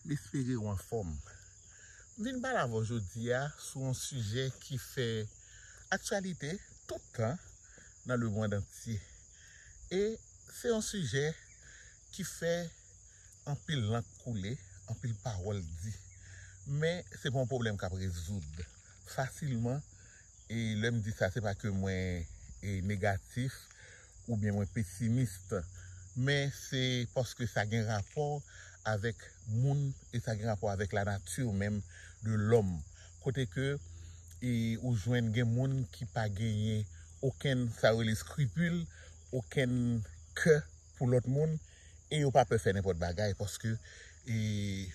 M espere ou anfòm. M vin pale avè w jodi a sou yon sijè ki fè aktyalite tout tan nan lemond antye. E se yon sijè ki fè anpil lank koule, anpil pawòl di. Men se pa yon pwoblèm k ap rezoud fasilman E lè m di sa se pa ke mwen negatif oubyen mwen pesimist men se paske sa gen rapò avèk moun e sa gen rapò avèk la nati menm de lòm kote ke ou jwenn gen moun ki pa genyen okenn sa yo rele skripil, okenn kè. pou lòt moun e yo pa pè fè nenpòt bagay paske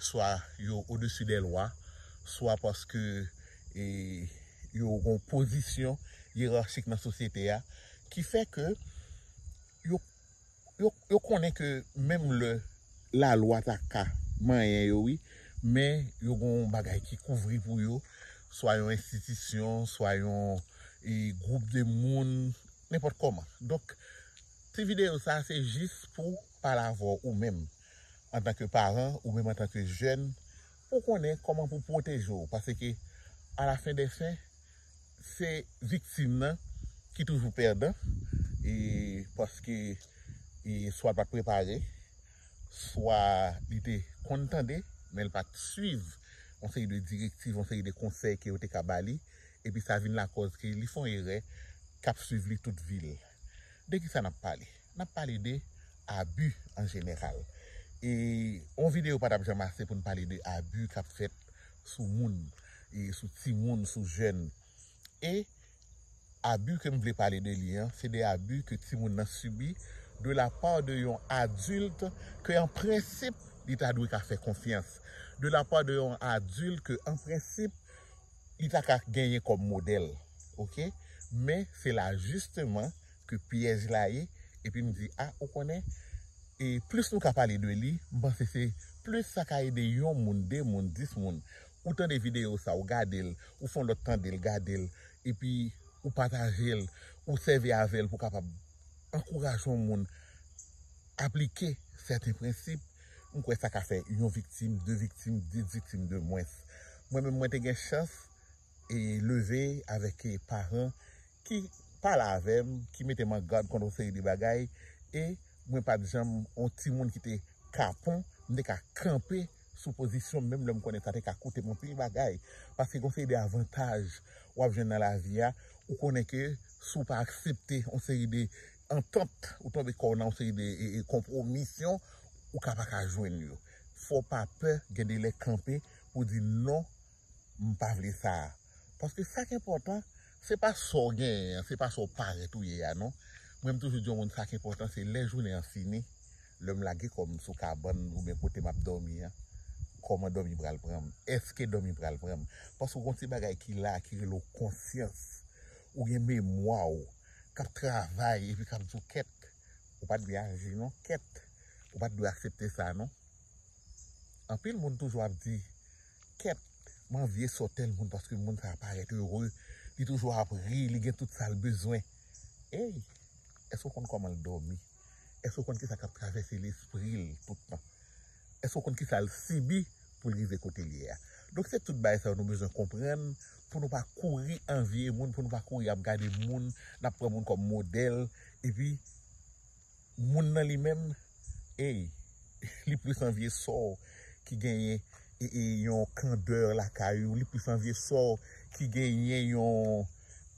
swa yo odesi dè lwa, swa paske yo gen yon pozisyon yerachik nan sosyete a ki fè ke yo konnen ke menm lè la lwa ta ka manyen yo wi men yo gen yon bagay ki kouvri pou yo swa yon enstitisyon, swa yon gwoup de moun, nenpòt kòman. Ti videyo sa se jis pou pale avè w ou menm antanke paran ou menm antanke jèn pou w konnen kòman pou w pwoteje w paske a la fen dè fen se viktim nan ki toujou pèdan e paske swa l pa t prepare swa li te konn tande men l pa t swiv yon seri de direktiv yon seri de konsèy ke yo te ka ba li epi sa vin lakòz ke li fè yon erè k ap swiv li tout vi l. De ki sa n ap pale? N ap pale de abi an jeneral. E yon videyo pa t ap janm ase pou n pale de abi k ap fèt sou moun, sou timoun, sou jèn. E abi ke m vle pale de li an, se de abi ke timoun nan sibi de la pa de yon adilt ke an prensip li ta dwe ka fè konfyans. De la pa de yon adilt ke an prensip. li ta ka genyen kòm modèl ok men se la jisteman ke pyèj la ye epi m di a ou konnen e plis nou ka pale de li m panse se plis sa ka ede yon moun de moun dis moun ou tande videyo sa ou gade l ou fon lòt tande l gade l epi ou pataje l ou sèvi avè l pou kapab ankouraje yon moun aplike sèten prensip. M kwè sa ka fè yon viktim, de viktim, dis viktim de mwens. Mwen menm mwen te gen chans e leve avèk paran ki pale avè m, ki mete m an gad kont yon seri de bagay e mwen pa t janm yon timoun ki te kapon. M te ka kanpe sou pozisyon m menm lè m konnen sa te ka koute m anpil bagay. Paske gen yon seri de avantaj w ap jwenn nan lavi a, ou konnen ke si w pa aksepte yon seri de antant, ou tonbe kòw nan yon seri de konpwomisyon ou ka paka jwenn yo. Fòw pa pè gen de lè kanpe pou di non m pa vle sa a. Paske sak enpòtan se pa sòw genyen an, se pa sòw parèt ou ye a non. Mwen m toujou di yon moun sak enpòtan se lè jounen an fini, lèm lage kòm sou kabann oubyen kote map dòmi an, kòman dòmi pral pranm, èske dòmi pral pranm. Paske gon ti bagay ki la ki rele w konsyans, ou gen memwaw. kap travay epi kap di w kèt ou pat dwe aji non kèt ou pat dwe aksepte sa non anpil moun toujou ap di kèt m anvye sò tèl moun paske moun sa parèt ere li toujou ap ri li gen tout sa l bezwen ey èske w konn kòman l dòmi. Èske w konn kisa k ap travèse lespri l tout tan? Èske w konn kisa l sibi pou l rive kote l ye a? Donk se tout bagay sa yo nou bezwen konprann pou nou pa kouri anvye moun, pou nou pa kouri ap gade moun, n ap pran moun kòm modèl, epi moun nan li menm, ey, li plis anvye sò w ki genyen yon kandè lakay ou, li plis anvye sò w ki genyen yon.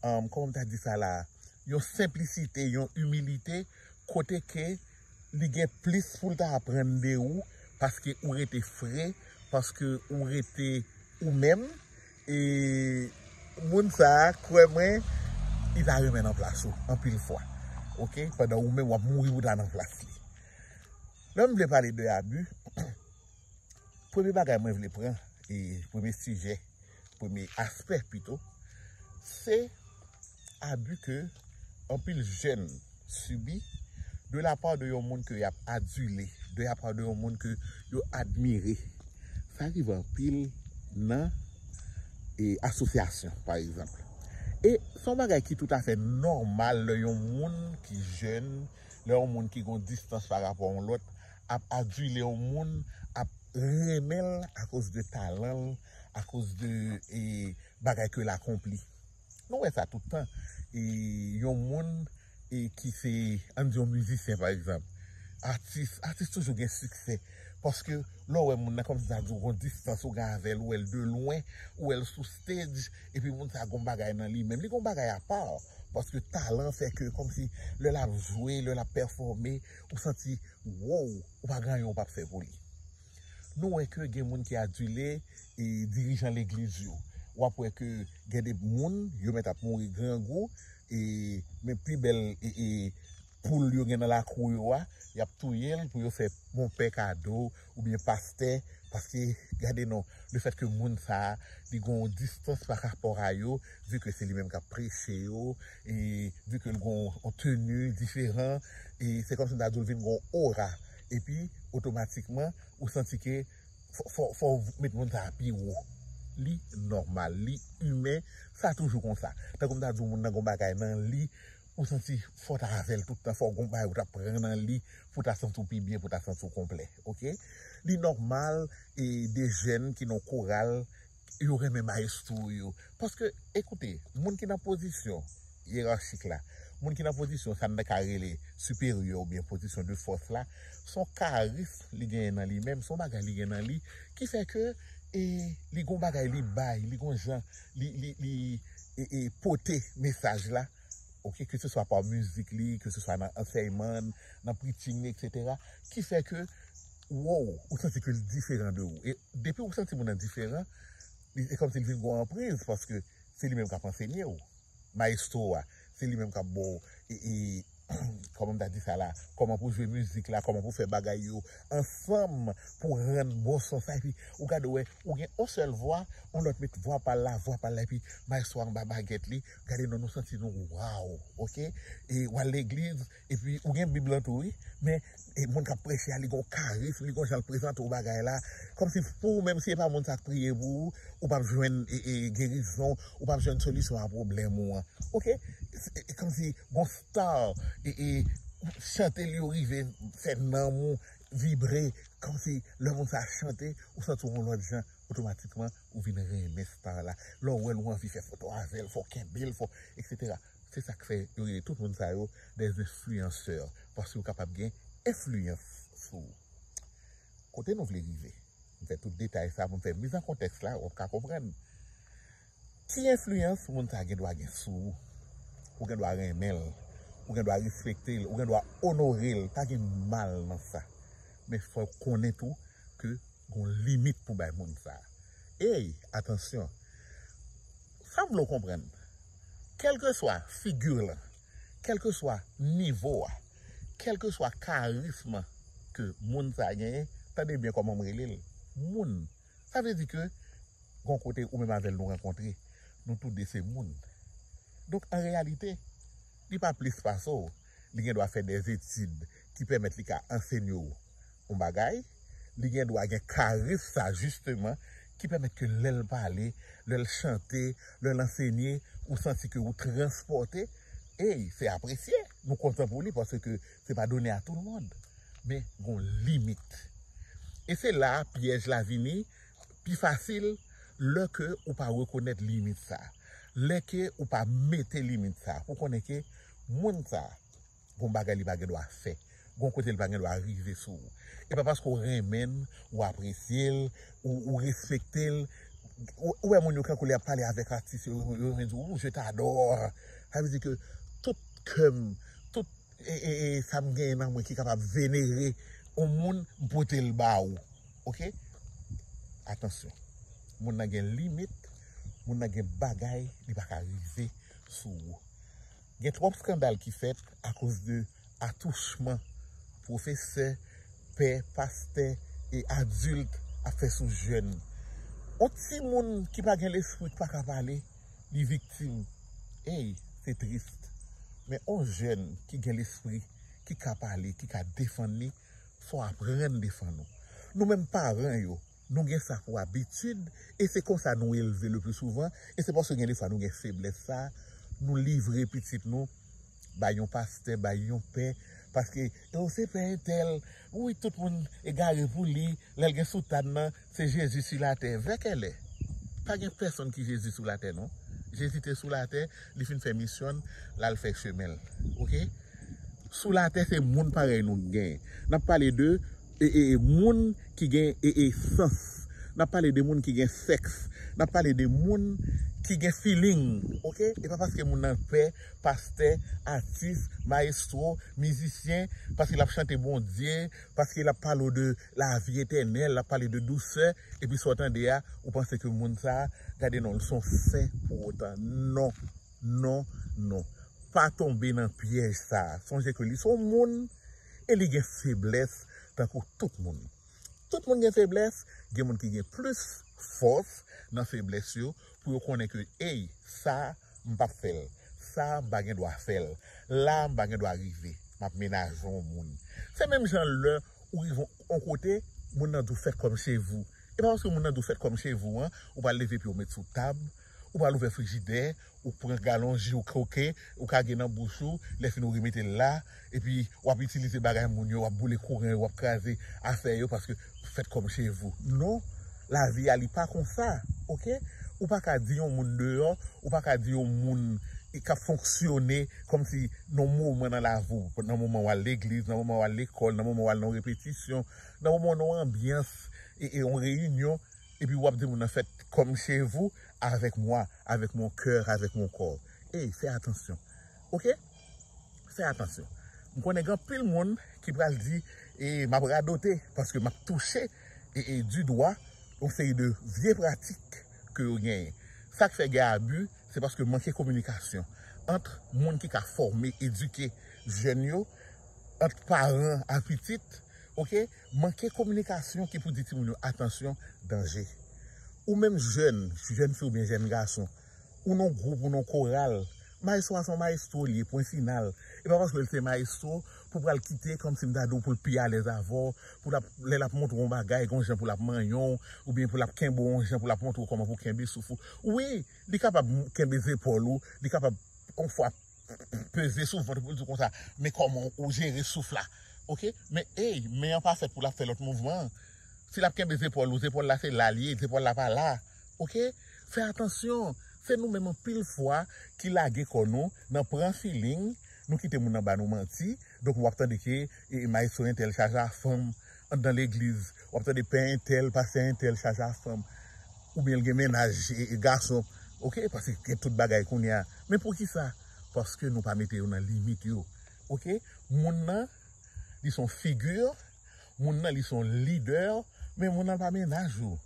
kòman m ta di sa la a, yon senplisite, yon imilite kote ke li gen plis pou l ta aprann de ou paske ou rete fre, paske ou rete ou menm e moun sa a kwè mwen li ta renmen nan plas ou anpil fwa ok, pandan ou menm w ap mouri pou w ta nan plas li. Lè m vle pale de abi, premye bagay mwen vle pran e premye sijè premye aspè pito, se abi ke anpil jèn sibi de la pa de yon moun ke yap adile, de la pa de yon moun ke yo admire. Sa rive anpil nan asosyasyon pa egzanp. E son bagay ki tout afè nòmal lè yon moun ki jèn, lè yon moun ki gon distans pa rapò yon lòt ap adile yon moun, ap renmen l akoz de talan l, a koz de bagay ke l akonpli. Nou wè sa tout tan. Yon moun ki se, an n di yon mizisyen pa egzanp, atis, atis toujou gen siksè. Paske lè w wè moun nan kòm si sa di w gon distans ou gen avè l, ou wè l de lwen, ou wè l sou stage, epi moun sa gon bagay nan li menm. Li gon bagay apa, paske talan fè ke kòm si lè l ap jwe, lè l ap pèfòme, ou santi woww, ou pa gen anyen ou pa p fè pou li. Nou wè ke gen moun ki adile e dirijan legliz yo. Wap wè ke gen de moun yo mèt ap mouri grangou e men pi bèl e poul yo gen nan lakou yo a, yap touyel pou yo fè monpè kado ou byen pastè paske gade non le fèt ke moun sa li gen yon distans pa rapò a yo vi ke se li menm kap preche yo e vi ke li gen yon teni diferan e se kòmsi m ta di w li vin gen yon ora. epi otomatikman ou santi ke fò ou met moun sa a pi wo. Li nòmal, li imen, sa toujou konsa. Tankou m ta di w moun nan gen yon bagay nan li, ou santi fò w ta avè l tout tan, fò gen yon bagay ou ta pran nan li pou w ta santi w pi byen, pou w ta santi w konplè. Ok. Li nòmal e de jèn ki nan yon koral Yo renmen maestro yo. Paske, ekoute, moun ki nan pozisyon yerarchik la, moun ki nan pozisyon sa n ta ka rele siperyè oubyen pozisyon de fòs la, s on karism li genyen nan li menm, s on bagay li gen nan li ki fè ke e li gon bagay li bay, li gon jan li, li, li e pote mesaj la, oke, ke se swa pa mizik li, ke se swa nan ansèyman, nan preaching li, eksetera, ki fè ke. Woww ou santi ke li diferan de ou e depi ou santi moun nan diferan li e kòmsi li vin gon anpriz paske se li menm kap ansenye ou maestro a se li menm kap baw e e kòman m ta di sa la kòman pou jwe mizik la kòman pou fè bagay yo ansanm pou rann bon son sa epi ou gade wè ou gen on sèl vwa on lòt met vwa pal la vwa pal la epi maestro a anba bagèt li gade non nou santi nou waww ok e wal legliz. Epi ou gen bib lan tou wi. Men e moun kap preche a li gen yon karism, li gen yon jan l prezante yon bagay la, kòmsi pou ou menm si e pa moun sa k priye pou ou, ou pap jwenn gerizon, ou pap jwenn solisyon a pwoblèm ou an. Ok, e kòmsi gon star e e chante li yo rive fè nanm ou vibre, kòmsi lè moun sa chante ou santi w yon lòt jan, otomatikman ou vin renmen star la. Lè w wè l ou anvi fè foto avè l, fè w kenbe l, fè w eksetera. Se sak fè yo rele tout moun sa yo des influenceurs paske yo kapab gen enfliyans sou ou. Kote nou vle rive? M fè tout detay sa pou m fè miz an kontèks la, wap ka konprann. Ki enfliyans moun sa gen dwa gen sou ou? Ou gen dwa renmen l, ou gen dwa respekte l, ou gen dwa onore l, pa gen mal nan sa. Men fò w konnen tou ke gon limit pou bay moun sa. Ey, atansyon! Sa m vle w konprann, kèlkeswa figi w lan, kèlkeswa nivo a, kèlkeswa karism ke moun sa a genyen, tande byen kòman m rele l, moun. Sa vle di ke gon kote ou menm avè l nou rankontre, nou tou de se moun. Donk an reyalite, li pa plis pase w, li gen dwa fè dè etid. ki pèmèt li ka ansenye w yon bagay, li gen dwa gen karis sa jisteman ki pèmèt ke lè l pale, lè l chante, lè l ansenye, ou santi ke ou transpòte, ey, se apresye, nou kontan pou li paske se pa done a tou l mond. Men, gon limit. E se la a pyèj la vini pi fasil lè ke ou pa rekonèt limit sa, lè ke ou pa mete limit sa pou konnen ke moun sa, Gon bagay li pa gen dwa fè. Gon kote li pa gen dwa rive sou ou. E pa paske ou renmen l, ou apresye l, ou respekte l. Ou wè moun yo kankou lè y ap pale avèk atis yo, yo renmen di ou je t'adore. Sa vle di ke tout kè m, tout sa m genyen nan mwen ki kapab venere yon moun, m pote l ba ou. Ok? Atansyon. Moun nan gen limit, moun nan gen bagay li pa ka rive sou ou. Gen twòp skandal ki fèt akoz de atouchman pwofesè, pè, pastè e adilt ap fè sou jèn. On timoun ki pa gen lespri k pa ka pale, li viktim. Ey, se trist. Men on jèn ki gen lespri, ki ka pale, ki ka defann li, fò w aprann defann ou. Nou menm paran yo, Nou gen sa pou abitid e se konsa nou elve le pli souvan e se paske gen defwa nou gen feblès sa nou livre pitit nou bay yon pastè, bay yon pè paske oh se pè entèl wi tout moun egare pou li lèl gen soutàn nan se Jezi su latè vè kèlè pa gen pèsonn ki Jezi sou latè non Jezi te sou latè li fin fè misyonn lal fè chemenl ok sou latè se moun parèy nou gen nap pale de E e e moun ki gen e e sans. N ap pale de moun ki gen sèks. N ap pale de moun ki gen filing. Ok? E pa paske moun nan pè, pastè, atis, mayestwo, mizisyen, paske l ap chante Bondye, paske l ap pale w de lavi etènèl, l ap pale de dousè, epi sa w tande a, ou panse ke moun sa a, gade non l, s on sen pou otan. Non! Non! Non! Pa tonbe nan pyèj sa a. Sonje ke li s on moun. e li gen feblès tankou tout moun. Tout moun gen feblès, gen moun ki gen plis fòs nan feblès yo pou yo konnen ke ey sa m pap fè l, sa m pa gen dwa fè l, la m pa gen dwa rive, m ap menaje yon moun. Se menm jan lè ou rive yon kote, moun nan di w fèt kòm che vou. E pa paske moun nan di w fèt kòm che vou an, ou pral leve pye w met sou tab, ou pral ouvè frijidè, Ou pran galon ji ou koke, ou ka gen nan bouch ou, lè fini ou remete l la, epi w ap itilize bagay moun yo, w ap boule kouran yo, w ap kraze afè yo paske faites comme chez vous. Non, lavi a li pa konsa, ok. Ou pa ka di yon moun deyò, ou pa ka di yon moun k ap fonksyone kòm si nan yon moman nan lavi w, nan moman w al legliz, nan moman w al lekòl, nan moman w al nan yon repetisyon, nan moman w nan yon anbyans, yon reyinyon, e pi wap di moun nan fèt kòm chez vous avèk mwa avèk mon coeur avèk mon corps ey fè atansyon ok fè atansyon m konnen gen anpil moun ki pral di e map radote paske map touche e di dwa yon seri de vye pratik ke yo genyen sak fè gen abi se paske manke kominikasyon ant moun ki ka fòme edike jèn yo ant paran a pitit ok. Manke kominikasyon ki pou di timoun yo atansyon, danje. Ou menm jèn, jèn fi oubyen jèn gason, ou nan yon gwoup, ou nan yon koral, mayestwo a se yon mayestwo li ye pwen final. E pa paske l se mayestwo pou w pral kite kòmsi m ta di w pou l pi alèz avè w, pou l ap, lè l ap montre w yon bagay gen yon jan pou l ap manyen w, oubyen pou l ap kenbe w yon jan pou l ap montre w kòman pou w kenbe souf ou. Wi, li kapab kenbe zepòl ou, li kapab yon fwa. peze sou vant ou poul di w konsa men kòman ou jere souf la ok men ey men an pa fèt pou lap fè lòt mouvman si lap kenbe zepòl ou zepòl la se la l ye zepòl la pa la ok fè atansyon se nou menm anpil fwa ki lage kò nou nan pran filing nou kite moun nan ba nou manti donk wap tande ke maestro entèl chaja fanm anndan legliz wap tande pè entèl pastè entèl chaje a fanm oubyen l gen mennaj e gason ok paske gen tout bagay kounya men poukisa paske nou pa mete yo nan limit yo ok moun nan li son figi moun nan li son lidè men moun nan pa mennaj ou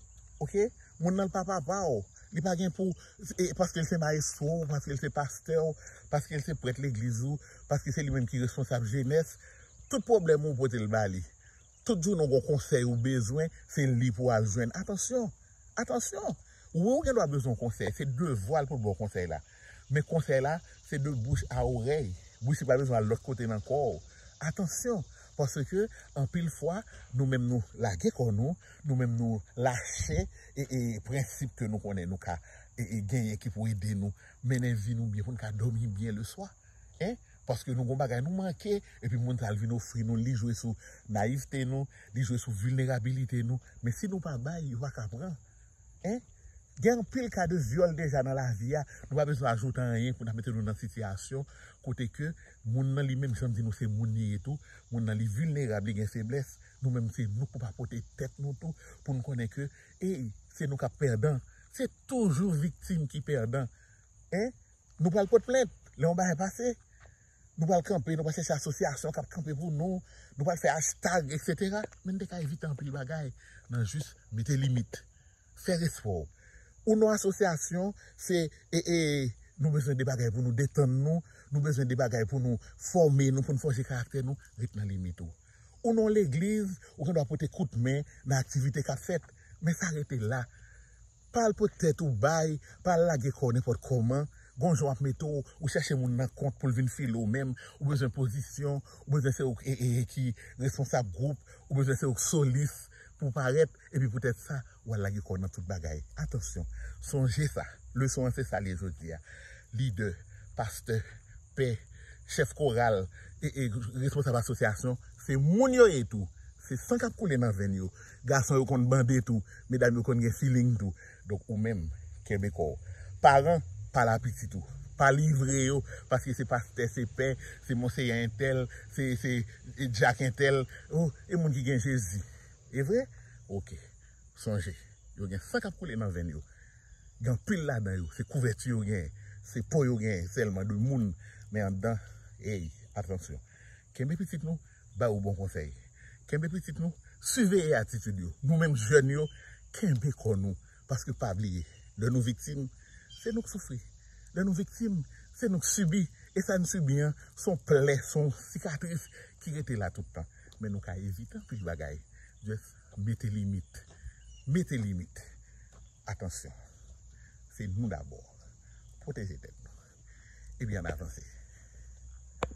ok moun nan l pa papa w li pa gen pou e paske l se maestro w paske l se pastè w paske l se prèt legliz ou paske se li menm ki responsab jenès Tout pwoblèm ou pote l ba li. Tout jounen ou gen yon konsèy ou bezwen, se li pou w al jwenn. Atansyon! Atansyon! Wi ou gen dwa bezwen yon konsèy, se devwa l pou l ba w konsèy la. Men konsèy la, se de bouch a orèy. Bouch li pa bezwen al lòt kote nan kò w. Atansyon! Paske anpil fwa, nou menm nou lage kò nou, nou menm nou lache prensip ke nou konnen nou ka genyen ki pou ede nou mennen vi nou byen pou n ka dòmi byen leswa. Hein paske nou gon bagay nou manke epi moun sa al vin ofri nou li jwe sou nayivte nou li jwe sou vilnerabilite nou men si nou pa bay yo paka pran hein gen anpil ka de vyòl deja nan lavi a nou pa bezwen ajoute anyen pou ta mete nou nan sitiyasyon kote ke moun nan li menm janm di nou se moun li ye tou moun nan li vilnerab li gen feblès nou menm se nou pou pa pote tèt nou tou pou nou konnen ke ey se nou kap pèdan se toujou viktim ki pèdan hein Nou pral pot plent lè yon bagay pase. Nou pral kanpe, nou pral chèche asosyasyon kap kanpe pou nou. Nou pral fè hashtag etc. Men nou te ka evite anpil bagay nan jis mete limit. Fè respè w. Ou nan asosyasyon se ee nou bezwen de bagay pou nou detann nou, nou bezwen de bagay pou nou fòme nou, pou nou fòje karaktè nou, ret nan limit ou. Ou nan yon legliz, ou gen dwa pote kout men nan aktivite kap fèt. Men sa rete la. Pa al pot tèt ou bay, pa al lage kò w nenpòt kòman, gon jan w ap mete w, ou chèche moun nan kont pou l vin file w menm, ou bezwen pozisyon, ou bezwen se ou k ki responsab gwoup, ou bezwen se ou k solis pou w parèt, epi poutèt sa, w al lage kò w nan tout bagay. Atansyon! Sonje sa, leson an se sa l ye jodi a, lidè, pastè, pè, chèf koral, e, e, responsab asosyasyon, se moun yo ye tou, se san k ap koule nan venn yo. Gason yo konn bande tou, medam yo konn gen feeling tou. Donk ou menm, kenbe kò w. Paran, pa la pitit ou. Pa livre yo paske se pastè, se pè, se monseyè entèl, se se dyak entèl. O, e moun ki gen Jezi. E vre? Ok. Sonje, yo gen san k ap koule nan venn yo. Gen anpil ladan yo, se kouvèti yo genyen. Se po yo genyen sèlman de moun, men anndan, ey, atansyon. Kenbe pitit nou, ba yo bon konsèy. Kenbe pitit nou, siveye atitid yo. Nou menm jèn yo, kenbe kò nou. Paske pa bliye, lè nou viktim, se nou k soufri. Lè nou viktim, se nou k sibi. E sa n sibi an, s on plè, s on sikatris ki rete la tout tan. Men nou ka evite anpil bagay. Just mete limit. Mete limit. Atansyon. Se nou dabò. Pwoteje tèt nou. Epi ann avanse.